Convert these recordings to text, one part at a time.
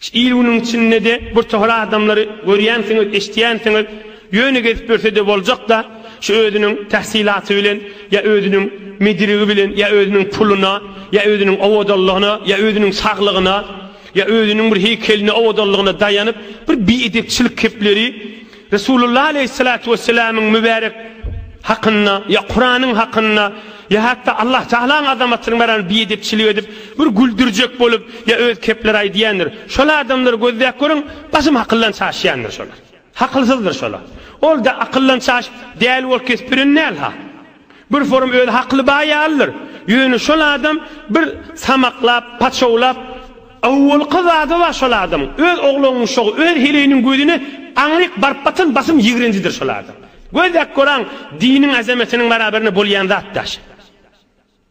Şu il-günüň içinde-de birtohar adamlary görýänsiňiz, eşidýänsiňiz, ýöne gezip ýörse-de boljak-da, şu özüniň tähsilaty bilen ýa özüniň mediligi bilen ýa özüniň puluna ýa özüniň owadanlygyna ýa özüniň saglygyna ýa özüniň bir heýkeline owadanlygyna daýanyp, bir biedepçilik kepleri Resulullah aleýhissalatu wessalamyň mübärek hakynda, ýa Kuranyň hakynda, ýa hatda Allah Tagalaň azamatyny baran biedepçilik edip, bir güldürjek bolup, ýa öz kepleri aýdýandyr. Şol adamlary gözläp görüň, basym hakyldan çaşýandyr şolar. Hakylsyzdyr şolar. Ol-da akyldan çaşyp däli bolup kesip biren däl-ha. Bir forum özi hakly baý ýalydyr. Ýöne şol adam bir samaklap, paçawlap, awwalky zady bar şol adamyň. Öz oglunyň şogy, öz heleýiniň gözüne aňryk baryp batan basym ýigrenjidir şol adam. Gözläp göraň, diniň azametiniň barabarynda bolýan zat daşy.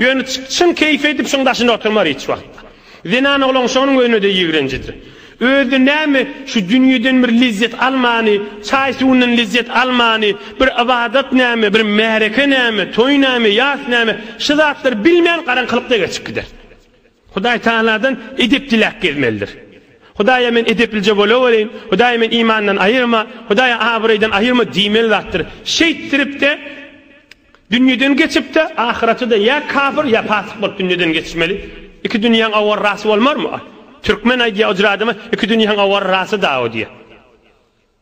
Ýöne çyn keýpi edip şuň daşynda oturmar hiç wagtda. Zenan oglan şonuň özüne-de ýigrenjidir. Özi näme şu dünýeden bir lezzet almany, çaý-suwundan lezzet almany, bir ybadat näme, bir märeke näme, toý näme, ýas näme, şu zatlary bilmän garaňkylykda geçip gider. Hudaý tagaladan edep diläp gezmelidir. Hudaýa men edeplije bolaweraýyn, Hudaý men imandan aýyrma, Hudaý abraýdan aýyrma diýmeli zatdyr. Şeýtdirip-de Dünýeden geçip-de, ahyrete-de ýa kafir, ýa pasyk bolup dünýeden geçmeli. Iki dünýäň awarrasy bolmarmy? Türkmen aýdýar, Ojur adama iki dünýäň awarrasy dagy diýýär.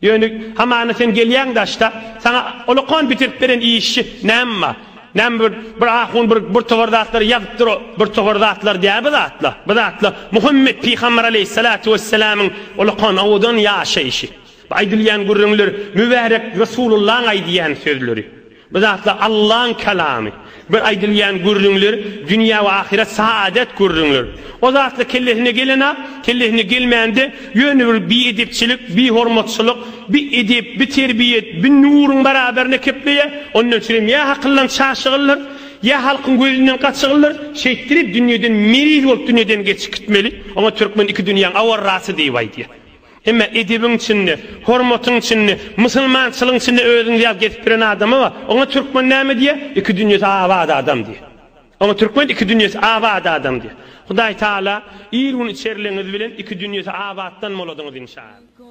Ýöne hamana sen gelýäň daşda, saňa olakan bitirip beren işçi näme bar? Näme bir, bir ahun bir, bir topar zatlary ýazypdyr, o bir topar zatlar däl bu zatlar. Bu zatlar Muhammet pygamber aleýhissalatu wessalamyň olakan owadan ýaşaýşy. Bu aýdylýan gürrüňler Mübärek Resulullaň aýdýan sözleri. Bu zatlar Allaň kalamy. Bir aýdylýan gürrüňler, dünýä we ahyret saadet gürrüňler. O zatlar kellesine gelen-ak, kellesine gelmän-de, ýöne bir biedepçilik, bihormatçylyk, bi edep, bi terbiýet, bi nuruň baraberine kepleýär. Ondan üçin hem ýa hakylyň çaşygylyr, ýa halkyň gözünden gaçygylyr, şeýtdirip dünýeden meriz bolup dünýeden geçip gitmeli. Oňa türkmen iki dünýäň awarrasy diýip aýdýar. Emma edebiň içinde, hormatyň içinde, musulmançylygyň içinde özüňizi ýaly gezip ýören adama bar. Oňa türkmen näme diýýär? Iki dünýesi abat adam diýýär. Oňa türkmen iki dünýesi abat adam diýýär. Hudaý Taala ir-gün içerligiňiz bilen iki dünýesi abatdan boladyňyz inşaAllah.